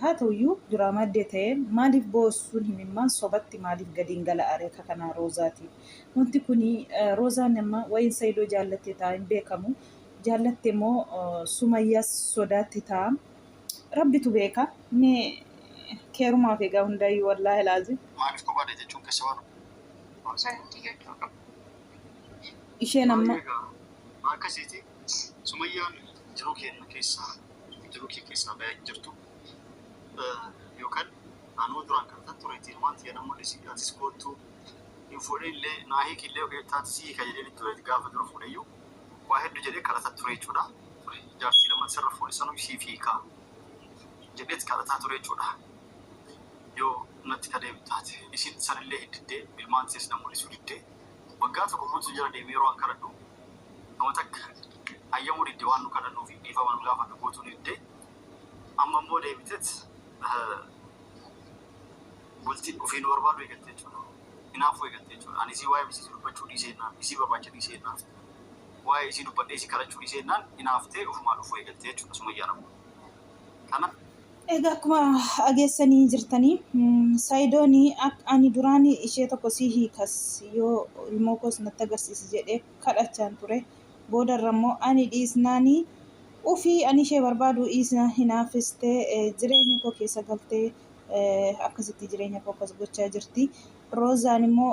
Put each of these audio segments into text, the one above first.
Haa ta'uyyuu diraamaa illee ta'ee maaliif boossuun himimmaan sobatti maaliif gadi hin gala'aree ka kanaa Roozaati. Wanti kuni Roozaan amma wayiin Sayidoo jaallatte ta'a hin beekamu. Jaallatte moo Sumayyaas sodaatte ta'a. Rabbitu beeka. Inni keerumaaf egaa hundaayyuu wallaahil aziim. Maaliif kophaa deete jechuun keessa waan. Roozaa hin diiga jechuun qabu. Isheen amma. Baay'ee ga'a. Akkasiiti. Sumayyaan jiruu keenna keessaa jiruu kiyya keessaa bayaa hin jirtu. Yookaan anuu duraan kan tan ture itti ilmaan tiyya nan mul'isi atis koottu hin fuudhin illee naa hiiki illee yoo jettaa si hiika jedheen itti ture gaafa dura fuudhe iyyuu waa hedduu jedhee kadhata ture jechuudha. Jaartii lammata sirra fuudhe sanuu siif hiika jedheet kadhataa ture jechuudha. Yoo natti ka deebi'u taate isiin san illee hin diddee ilmaan tiyas nan mul'isuu diddee Waggaa tokko guutuu jala deemee yeroo an kadhadhu nama takka hayyamuu didde waan nu kadhannuu fi dhiifama nu gaafannu guutuu didde amma immoo deebitet bulti ofii nu barbaadu eegalte jechuudha. Inaafuu eegalte jechuudha. Ani isii waa'ee misisi dubbachuu dhiisee jennaan isii barbaacha dhiisee jennaan waa'ee isii dubbadhee isii kadhachuu dhiisee jennaan inaaftee ofumaa dhufuu eegalte jechuudha Sumayyaa Rakkoo kana Egaa akkuma dhageessanii jirtanii Saayidoon akka ani duraan ishee tokko sii hiikas yoo ilmoo koos natti agarsiisi jedhee kadhachaan ture. Boodarra immoo ani dhiisnaan ufii ani ishee barbaadu isa hinaafistee jireenya koo keessa galtee akkasitti jireenya koo akkas gochaa jirti. Roozaan immoo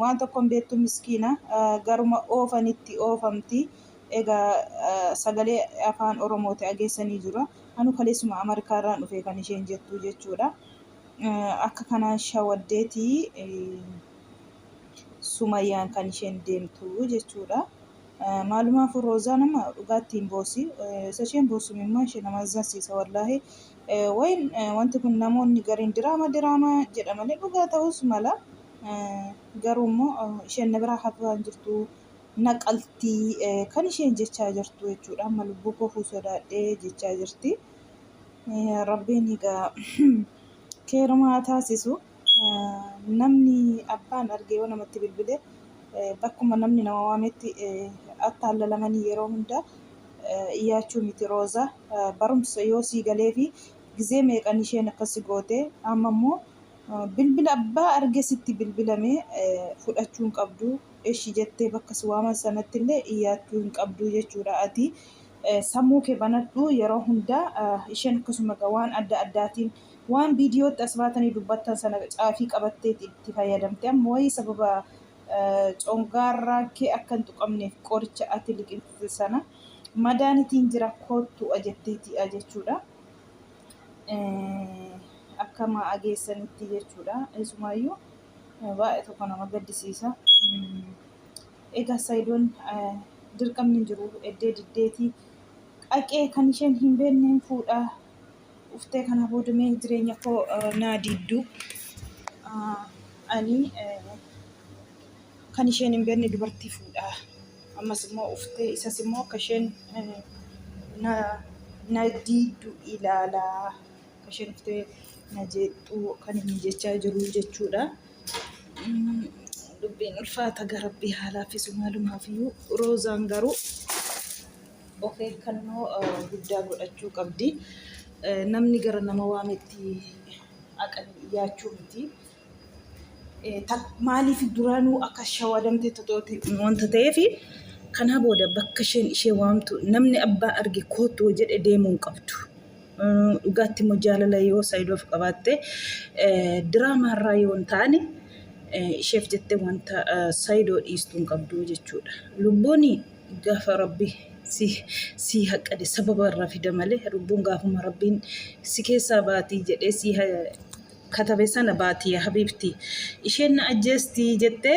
waan tokkoon beektu miskiina garuma oofanitti oofamti. Egaa sagalee afaan Oromooti dhageessanii jira. Anu kaleessuma Amerikaa irraan dhufee kan isheen jettuu jechuudha. Akka kanaan shawaddeeti Sumayyaan kan isheen deemtu jechuudha. Maalumaafuu Roozaa nama dhugaatti hin boosi. Isa isheen boossu immoo ishee nama zansiisa wallaahi. Wayin wanti kun namoonni gariin diraama diraama jedha malee dhugaa ta'us mala. Garuu immoo isheen na biraa hafaa hin jirtu. naqaltii kan isheen jechaa jirtu jechuudha amma lubbuu kofuu sodaadhee jechaa jirti rabbiin egaa keerumaa taasisu namni abbaan arge yoo namatti bilbile bakkuma namni nama waametti attaallalamanii yeroo hunda iyyaachuu miti rooza barumsa yoo sii galee fi gizee meeqan isheen akkasi goote amma immoo Bilbila abbaa arge sitti bilbilame fudhachuu hin qabdu. Eshi jettee bakka si waaman sanatti illee iyyaachuu hin qabdu jechuudha. Ati sammuu kee banadhu yeroo hundaa isheen akkasuma egaa waan adda addaatiin waan viidiyootti as baatanii dubbattan sana caafii qabattee itti fayyadamte amma wayii sababa congaarraan kee akka hin tuqamneef qoricha ati liqimsite sana madaanitiin jira koottu'a jetteeti'a jechuudha. akka maa'a geessanitti jechuudha. Isumaayyuu baay'ee tokko nama gaddisiisa. Egaa Saayidoon dirqamni hin jiru eddee diddeetii qaqee kan isheen hin beekneen fuudhaa uftee kana booda mee jireenya koo naa didduu ani kan isheen hin beekne dubartii fuudha. Ammas immoo uftee isas immoo akka isheen na na diiddu ilaala. Akka isheen uftee na jeeqxu kan inni jechaa jiru jechuudha. Dubbiin ulfaata garabbii haa laaffisu maalumaaf iyyuu roozaan garuu of eeggannoo guddaa godhachuu qabdi. Namni gara nama waametti haqanii iyyaachu miti. maaliif duraanuu akka shawadamte totooti wanta ta'eef kanaa booda bakka isheen ishee waamtu namni abbaa arge kootu jedhe deemuu hin qabdu. Dhugaatti immoo jaalala yoo saayidoof qabaatte diraamaa irraa yoo hin taane isheef jettee wanta saayidoo dhiistuu hin qabdu jechuudha. Lubbuun gaafa rabbi si haqqade sababa irraa fida malee lubbuun gaafuma rabbiin si keessaa baatii jedhee si katabe sana baati ya habibti isheen na ajjeesti jette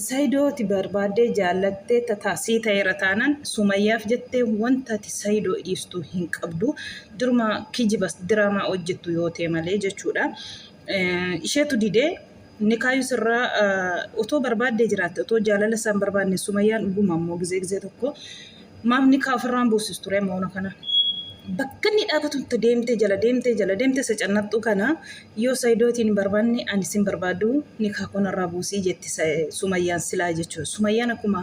sayidooti barbaadde jaallatte tata sii ta'eera taanan sumayyaaf jette wanta ati sayidoo dhiistu hin qabdu duruma kijiba diraamaa hojjettu yoo ta'e malee jechuudha isheetu didee nikaayu sirraa otoo barbaadde jiraatte otoo jaalala isaan barbaadne sumayyaan dhuguma ammoo gizee gizee tokko Maaf nikaa ofirraan buusis ture amma ona kana. Bakka inni dhaabatu itti deemtee jala deemtee jala deemtee isa cannaxxuu kana yoo saayidootiin hin barbaanne ani sin barbaadu nikaa koo narraa buusii jetti sumayyaan silaa jechuudha. Sumayyaan akkuma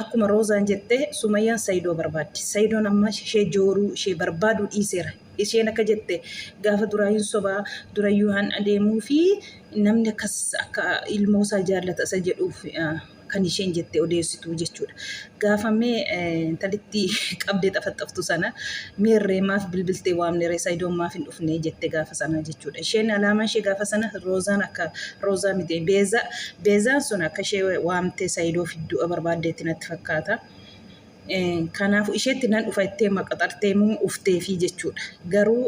akkuma roozaan jette sumayyaan saayidoo barbaaddi. Saayidoon amma ishee jooruu ishee barbaaduu dhiiseera. Isheen akka jette gaafa duraa hin sobaa durayyuu haan adeemuu fi namni akkas akka ilmoo isaa jaallata isa jedhuuf kan isheen jette odeessitu jechuudha. Gaafa mee intalitti qabdee xafaxaftu sana meerree maaf bilbiltee waamne ree sayidoon maaf hin dhufne jette gaafa sana jechuudha. Isheen alaamaan ishee gaafa sana roozaan akka roozaa miti beeza beezaan sun akka ishee waamtee sayidoo fidduu barbaaddeetti natti fakkaata. Kanaafuu isheetti nan dhufa ittee maqaxartee immoo ufteefii jechuudha. Garuu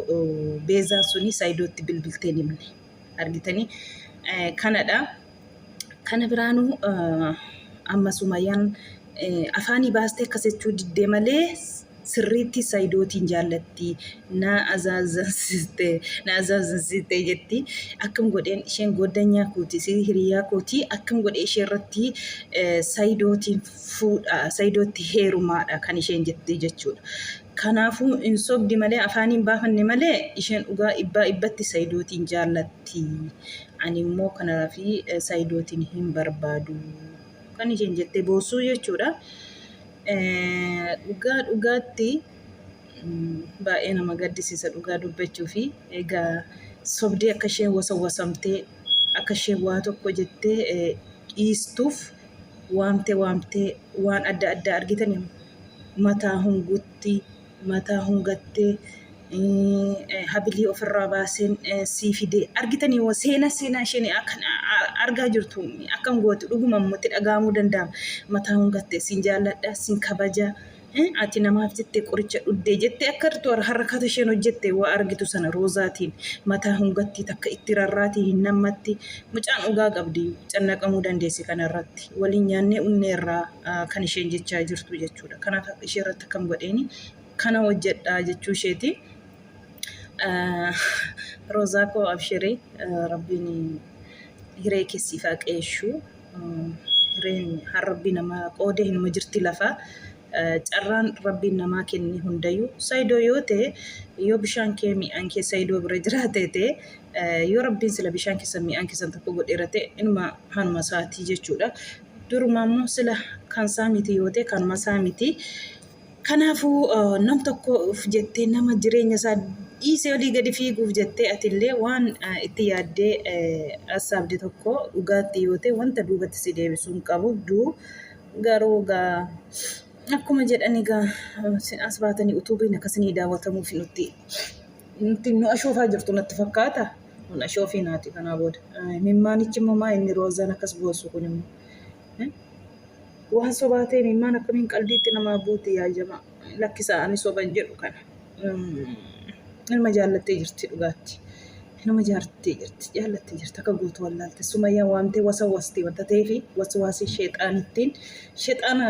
beezaan suni sayidootti bilbiltee nimne argitanii kanadha. Kana biraanuu amma Sumayyaan afaanii baastee akkas jechuu diddee malee sirriitti Saidootiin jaallatti na azaazansiiste na azaazansiiste jetti akkam godheen isheen goddanyaa kooti si hiriyaa kooti akkam godhee ishee irratti Saidootiin fuudha Saidootti heerumaadha kan isheen jettee jechuudha. Kanaafuu hin sobdi malee afaanii hin baafanne malee isheen dhugaa dhibbaa ibbatti Saidootiin jaallatti. Ani immoo kanaaf Saidootiin hin barbaadu kan isheen jettee boossuu jechuudha. Dhugaa dhugaatti baay'ee nama gaddisiisa dhugaa dubbachuu fi egaa sobdee akka isheen wasawwasamtee akka isheen waa tokko jettee dhiistuuf waamtee waamtee waan adda addaa argitanii mataa hungutti, mataa hungattee, habilii ofirraa baaseen sii fidee. Argitanii hoo seenaa seenaa isheen akkan argaa jirtu akkam gootu dhuguma immoo itti dhaga'amuu danda'ama. Mataa hungattee siin jaalladha siin kabaja ati namaaf jettee qoricha dhuddee jettee akka jirtu harkata isheen hojjette waa argitu sana roozaatiin mataa hungattii takka itti rarraatii hin nammatti mucaan dhugaa qabdi cannaqamuu dandeessi kanarratti waliin nyaannee unneerraa. kan isheen jechaa jirtu jechuudha. Kana ishee irratti akkam godheeni kana hojjedhaa jechuu isheeti. Rozaa koo abshirii rabbiin hiree keessii faaqeeshu. Hireen har rabbii namaa qoodee hinuma jirti lafaa. Carraan rabbiin namaa kenne hundayyuu saydoo yoo ta'e yoo bishaan kee mi'aan kee saydoo bira jiraate ta'e yoo rabbiin sila bishaan keessan mi'aan keessan tokko godheera ta'e inuma hanuma isaatii jechuudha. Durumaa immoo sila kan isaa miti yoo ta'e kanuma isaa miti. Kanaafuu nam tokkoof jettee nama jireenya isaa dhiisee olii gadi fiiguuf jettee atillee waan itti yaaddee hassaabde tokko dhugaatti yoo ta'e wanta duubatti si deebisuu hin qabdu. Garuu egaa akkuma jedhan egaa as baatanii utuubiin akkasinii daawwatamuuf nutti nutti nu ashoofaa jirtu natti fakkaata. Kun ashoofii naati kanaa booda. Ay, Mimmaanichi immoo maa inni roozaan akkas boossu kun immoo. Eh? Waan sobaa ta'e mimmaan akkamiin qalbiitti namaa buuti yaa jamaa. Lakkisaa ani soba hin jedhu kana. Mm, Nama jaallattee jirti dhugaatti. Nama jaartee jirti, jaallattee jirti akka gootu wallaalte. Sumayyaa waamtee wasawwasti wanta ta'eefi waswaasii sheexaanittiin sheexaana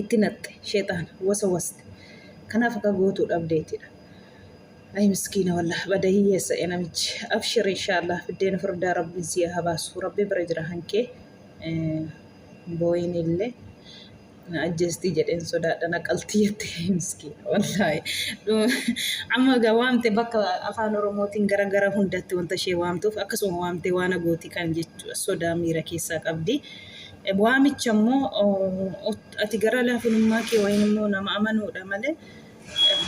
itti naqxe sheexaana wasawwasti. Kanaaf akka gootu dhabdeetidha. Ayi miskiina wallah bada hiyyeessa e namichi abshir inshaallah biddeena furdaa rabbiin si haa baasu rabbi bira jira hankee booyin illee na ajjeestii jedheen sodaadha na qaltii jette miskiina wallaahi amma egaa waamte bakka afaan oromootiin gara gara hundatti wanta ishee waamtuuf akkasuma waamtee waan agooti kan jechu sodaa miira keessaa qabdi waamicha immoo ati gara laafinummaa kee wayin immoo nama amanuudha malee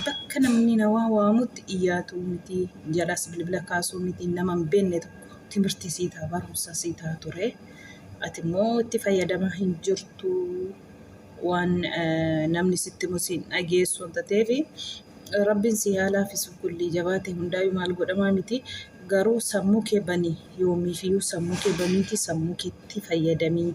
Bakka namni nawaa waamutti iyyaatuu miti jalaas bilbila kaasuu miti nama hin beekne tokko timirtii sii taa barumsa sii taa ture ati immoo itti fayyadamaa hin jirtu waan namni sitti himu siin dhageessu waan tateefi rabbiin sii haa laafisu kullii jabaate hundaayuu maal godhamaa miti garuu sammuu kee banii yoomiifiyuu sammuu kee baniiti sammuu keetti fayyadamii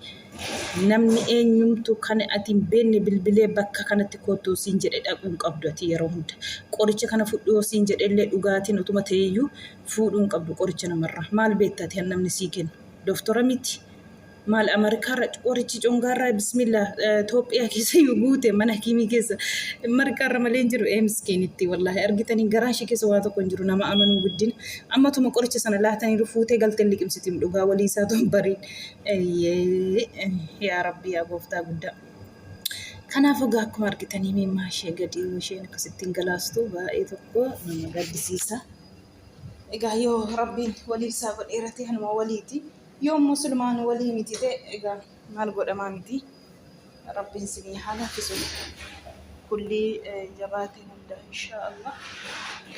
Namni eenyumtuu kan ati hin beekne bilbilee bakka kanatti koottu yoo siin jedhe dhaquu hin qabdu ati yeroo hunda. Qoricha kana fudhu yoo siin jedhe illee dhugaatiin utuma ta'ee iyyuu fuudhuu hin qabdu qoricha namarraa. Maal beekta ati han namni sii kennu? Doktora miti? Maal Amarikaarra qorichi congaarraa bismillah Toophiyaa keessa iyyuu guute mana hakiimii keessa Amarikaarra malee hin jiru ee miskiinittii wallaahi argitanii garaa ishee keessa waa tokko hin jiru nama amanuu guddina ammatuma qoricha sana laataniiru fuutee galtee liqimsitiim dhugaa walii isaatu hin bariin Eeyyee yaa rabbi yaa gooftaa guddaa. Kanaaf egaa akkuma argitanii miimmaa ishee gadi yoo isheen akkasittiin galaastu baay'ee tokko nama gaddisiisa. Egaa yoo rabbiin waliif isaa godheera ta'e hanuma waliiti. Yoo muslimaan walii miti ta'e egaa maal godhamaa miti. Rabbiin isinii haa laaffisu. Kullii eh, jabaatiin hundaa inshaa Allah.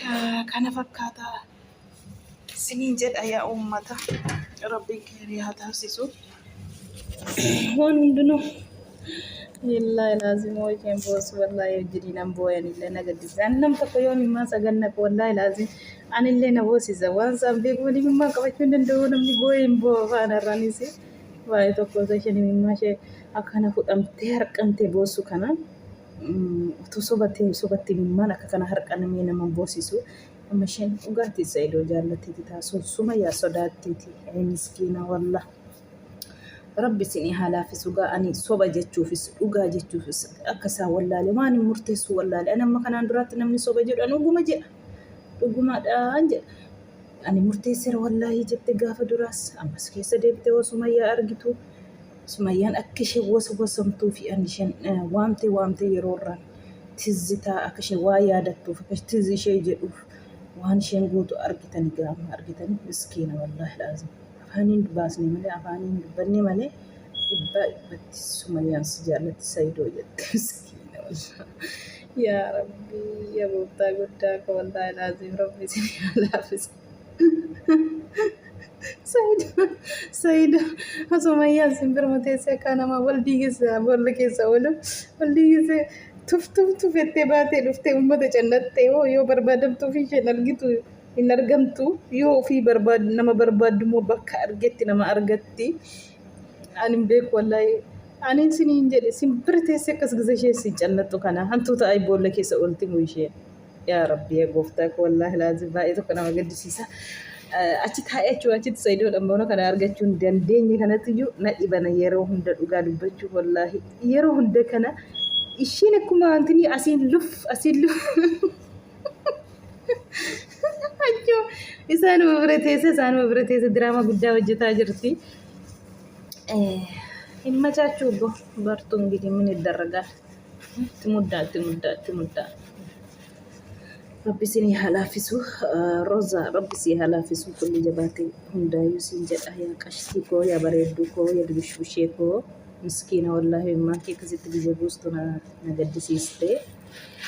Ka- Kana fakkaataa. siniin jedha yaa uummata rabbiin keerii haa taasisu waan hundinuu Illaahi laazim hoo'i keen boosu wallaahi hojjidii nan booyan illee na gaddisa ani nam tokko yoo mimmaa saganna ko wallaahi laazim ani illee na boosisa waan isaan beeku wani mimmaa qabachuu hin danda'u namni boo'e hin boo'a afaan irraanis waa'ee tokko isa isheen mimmaa ishee akkana fudhamtee harqantee boosu kana utuu sobatti sobatti mimmaan akka kana harqanamee nama boosisu Amma isheen dhugaati sa'idoo jaallattiti taa sun sumayyaa sodaattiiti ee miskiina wallah rabbi isinii haa laafisu gaa ani soba jechuufis dhugaa jechuufis akka isaa wallaale waan hin murteessuu wallaale ani amma kanaan duraatti namni soba jedhu ani dhuguma jedha dhugumaadhaan jedha ani murteessera wallaahii jette gaafa duraas ammas keessa deebite hoo sumayyaa argitu Sumayyaan akka isheen waswasomtuu fi an isheen waamtee waamtee yeroo irraan tizzitaa akka isheen waa yaadattuuf akka tizzi ishee jedhuuf waan isheen gootu argitani gaama argitani miskiina wallaahi laazim afaaniin baasne malee afaaniin dubbanne malee dhibbaa dhibbatti sumayyaan si jaallatti sayidoo jette miskiina wallaahi yaa rabbii yaa gooftaa guddaa akka wallaahi laazim rabbi isin yaa laafisa. Sayido Sumayyaan simbiruma teessee akka namaa wal diigessa boolla keessa oolu wal diigessa tuf tuf tuf jettee baatee dhuftee uummata cannattee hoo yoo barbaadamtu ofii isheen argitu hin argamtu yoo ofii barbaad nama barbaaddu immoo bakka argetti nama argatti ani hin beeku wallahi ani isiniin jedhe simbira teessee akkas gisa ishee si cannattu kana hantuuta ayi boolla keessa oolti moo isheen. Yaa Rabbi yaa gooftaa koo wallaahi laazim baay'ee tokko nama gaddisiisa. Eh, Achi taa'ee jechuun achitti Saidoo Dhamboona kana argachuun dandeenye kanatti iyyuu na dhibana yeroo hunda dhugaa dubbachuu wallaahi. Yeroo hunda kana ishiin akkuma wantinii asiin luf asiin luf achuu isaanuma bira teessa isaanuma bira teessa diraamaa guddaa hojjetaa jirti. Eh, Hin machaachuu obbo bartuu ingidiin min iddarragaa. Itti muddaa itti muddaa itti muddaa. Rabbi isinii haa laafisu. Rozaa rabbi sii haa laafisu kulli jabaatee hundaayyuu siin jedha yaa qashtii koo yaa bareedduu koo yaa dubishbushee koo miskiina wallaahi imimmaan kee akkasitti biyya buustu na na gaddisiiste.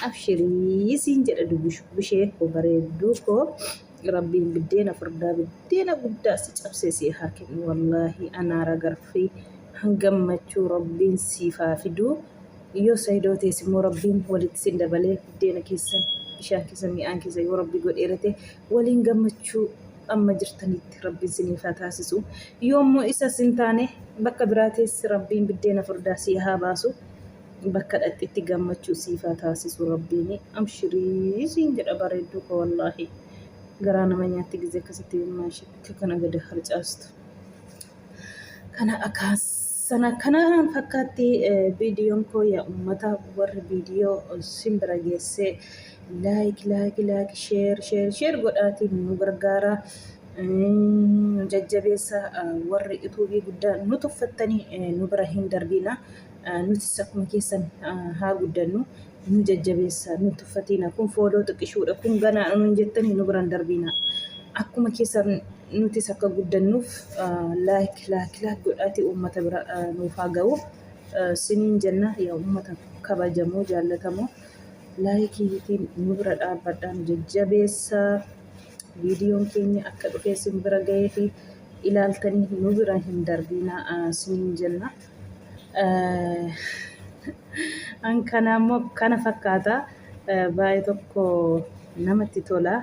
Abshirii siin jedha dubishbushee koo bareedduu koo. Rabbiin biddeena furdaa biddeena guddaa si cabsee si haa kennu wallaahi anaara garfii han gammachuu rabbiin siif haa fiduu yoo sayidoo tees immoo rabbiin walitti sin dabalee biddeena keessan bishaan keessan mi'aan keessan yoo rabbi godheerate waliin gammachuu amma jirtanitti rabbiin siniif haa taasisu yoo immoo isa sin taane bakka biraa tees rabbiin biddeena furdaa si haa baasu bakka dhaqxetti gammachuu siif haa taasisu rabbiin amshirii siin jedha bareedduu koo wallaahi garaa nama nyaatti gizee akkasitti imimmaan ishee akka kana gadi harcaastu kana akkaas sana kanaan fakkaatti eh, viidiyoon koo yaa ummata warri viidiyoo sin bira geesse laayik laayik laayik sheer sheer sheer godhaatii nu gargaara Eh, nu jajjabeessa eh, warri yutuubii guddaa nu tuffattanii eh, nu bira hin darbiina Nutis akkuma keessan haa guddannu. Nu jajjabeessa, nu tuffatiina. Kun fooloo xiqqishuudha, kun ganaadha nuun jettanii nu biraan darbiina. Akkuma keessan nutis akka guddannuuf laayik laayik laayik godhaatii uummata bira nuuf haa ga'u. Siniin jenna yaa uummata kabajamoo jaallatamoo laayikiitiin nu bira dhaabbadhaa nu jajjabeessa. Viidiyoon keenya akka dhufee sin bira ga'ee fi ilaaltanii nu bira hin darbiina siniin jenna. An kana ammoo kana fakkaata baay'ee tokko namatti tola.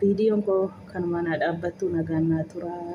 Viidiyoon koo kanumaan haa dhaabbattu nagaan naa turaa.